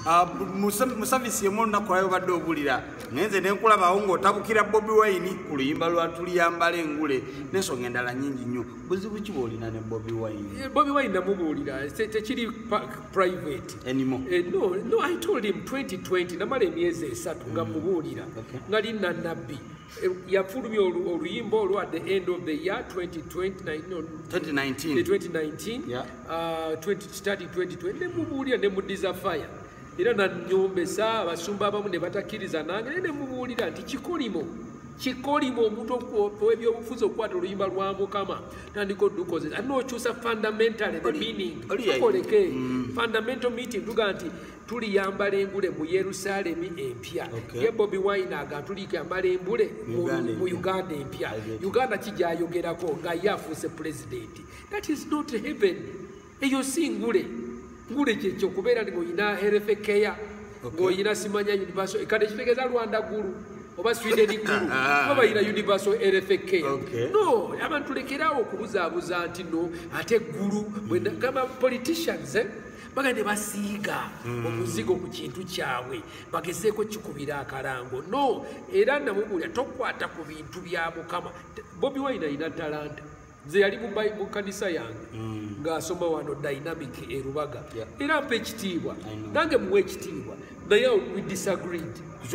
Ah, mu savisi emu olunaku lwayo obadde obulira naye nze nenkulabawo ngaotabukira bobi wine ku luyimba lwatuliyambala engule nensonga endala nyingi nnyo buzibu ki bwolina ne bobi wine eh, bobi wine namubuulira tekiri private enimo eh, no no i told him 2020 namala emyezi esatu nga mm. mubuulira nga linna nabbi yafulumya oluyimba olwo at the end of the year 2019 nemubuulira nemudiza fire era nanyombesa abasumba abamu ne batakkiriza nange naye nemubuulira nti kikolimo kikolimo omuntu owebyobufuzi okukwata oluyimba lwa mukama tandika odukoze ate nokyusa fundamentally the meaning tukoleke mm. fundamental meeting tuga nti tuliyambala engule mu yerusalemi empya okay. ye bobi wine aga tuliyambala engule mu uganda empya uganda kijayogerako nga ye afuuse pulezidenti that is not heaven eyo si ngule ngule kyekyo okubeera ni ngaolina herefe keya ngaolina simanya universo kati ekitegeeza rwanda gulu oba sweden gulu oba balina universal rfk no abantu lekerawo okubuzaabuza nti no ate gulu gamba politicians eh? baga ne basiiga hmm. omuzigo ku kintu kyabwe bagezeeko kikubira akalango no era namubulya tokwata ku bintu bya mukama bobi wine alina talanta nze yali mu kanisa yange hmm. ng'asoma wano dynamic erubaga era mpa ekitiibwa nange muwa ekitiibwa naye we disagreed